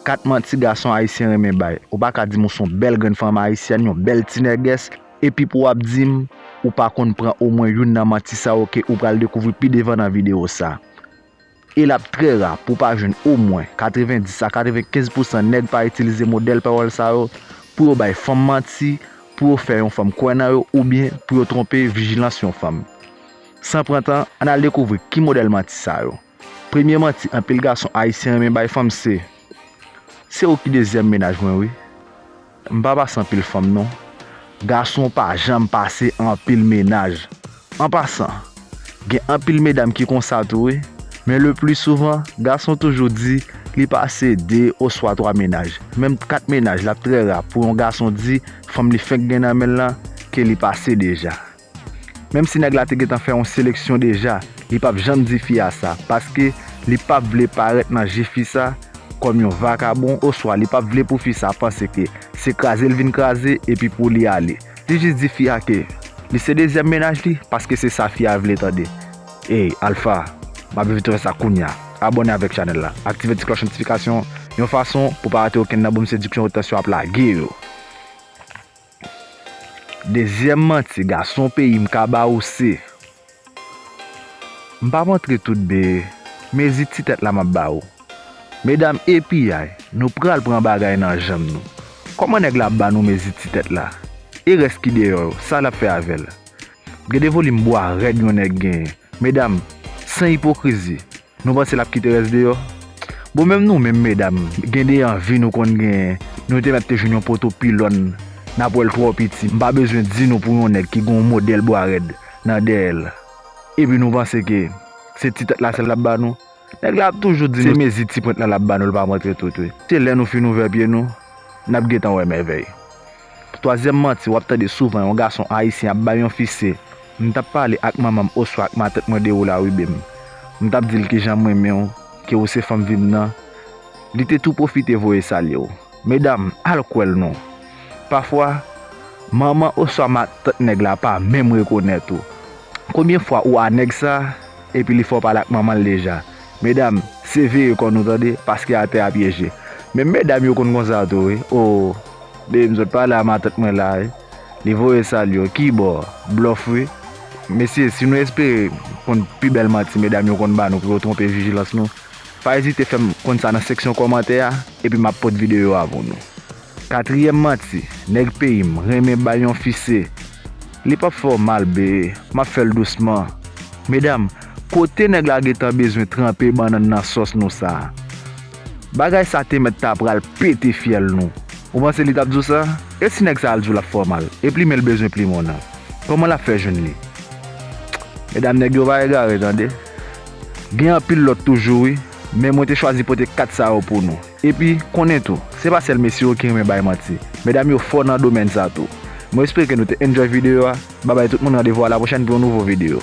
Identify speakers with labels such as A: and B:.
A: 4 manti gason ayisyen renmen bay. Ou pa ka di m ou s on bèl grenn fanm ayisyèn, yon bèl ti nègès, epi pou w ap di m ou pa konn pran omwen youn nan manti sa yo ke ou pral dekouvri pi devan nan videyo sa. E l ap trè ra pou w pa jwenn omwen 90 a 95 pousan nèg pa itilize modèl pawòl sa yo pou yo bay fanm manti, pou yo fè yon fanm kwè nan yo oubyen pou yo twonpe vijilans yon fanm. San pran tan, ann al dekouvri ki modèl manti sa yo. Premye manti anpil gason ayisyen renmen bay fanm se, Se ou ki dezyèm mennaj mwen wi. M pa pase anpil fanm non. Gason pa janm pase anpil mennaj. An pasan, gen anpil medam ki konsa tou wi, men le pli souvan gason toujou di li pase 2 oswa 3 mennaj. Menm 4 mennaj l ap trè ra pou yon gason di fanm li fenk gen nan men l lan ke li pase deja. Menm si nèg la te gentan fè yon seleksyon deja li pap janm di fi a sa paske li pap vle parèt nan je fi sa kòm yon vakabon oswa li pap vle pou fi sa panse ke se kraze l vin kraze epi pou li ale li jis di fi a ke li se dezyèm mennaj li paske se sa fi a vle tande Ey Alpha map viv trè sa kounya abòne avèk chanèl la aktive ti klòch notifikasyon yon fason pou pa rate okenn nan boom sediksyon yo tansyon ap lage yo. Dezyèm manti gason peyi m ka ba ou se, M pa p antre tout de mezi ti tèt la m ap ba ou. Medam e piyay, nou pral pran bagay nan janm nou. Kòman nèg la ap ba nou mezi ti tèt la? E rès ki deyò yo, sa l ap fè avè l? Gade volim bwa rèd yon nèg genyen. Medam, san ipokrizi, Nou panse lap kite rès deyò? Bon menm nou menm medam gen de anvi nou konn genyen nou te mèt te jwenn yon poto pilòn nap wèl twò piti mpa bezwen di nou pou yon nèg ki gen yon modèl bwa rèd nan dèyèl epi nou panse ke se ti tèt la sèl lap ba nou nèg la ap toujou di nou se mezi ti pwent la lap ba nou lpa montre tout wi se lè nou fin ouvè pye nou nap gentan wè mèvèy Pou twazyèm manti w ap tande souvan yon gason ayisyen ap bay yon fi se, M t ap pale ak manman m oswa ak matèt mwen de ou Laribe m. M t ap di l ki jan m renmen w, ke ou se fanm vi m nan. Li te tou pwofite voye salye w. Medam, al kwè l non! Pafwa, manman oswa matant nèg la pa menm rekonèt ou. Konbyen fwa ou a nèg sa, epi li fè w pale ak manman l deja? Medam se veye kò nou tande paske atè a pyeje menm medam yo konn konsa tou wi oo deem sot pale a matant mwen la wi li voye sal yo kibò blòf wi mesye si nou espere konn pi bèl manti medam yo konn ba nou pou yo twonpe vijilans nou pa ezite fèm konn sa nan seksyon kòmantè a epi map pot videyo a pou nou. Katriyèm manti nèg peyim renmen bay yon fi se Li pap fè w mal bee map fèl dousman. Medam kote nèg la gentan bezwen tranpe bannann nan sòs nou sa Bagay sa te mèt ta pral pete fyèl nou Ou panse li tap di w sa E si nèg sa al di w lap fè w mal E plimen l bezwen plimen w nan Kòman lap fè jwenn li Medam nèg yo pa egare tande Gen anpil lòt toujou wi Men mwen te chwazi pote 4 sa yo pou nou. Epi, konnen tou, se pa sèl mesye yo ki renmen bay manti. Medam yo fò nan domèn sa tou. Mwen espere nou te enjoy video a. Babay tout moun randevou a la pwochèn pou yon nouvo video.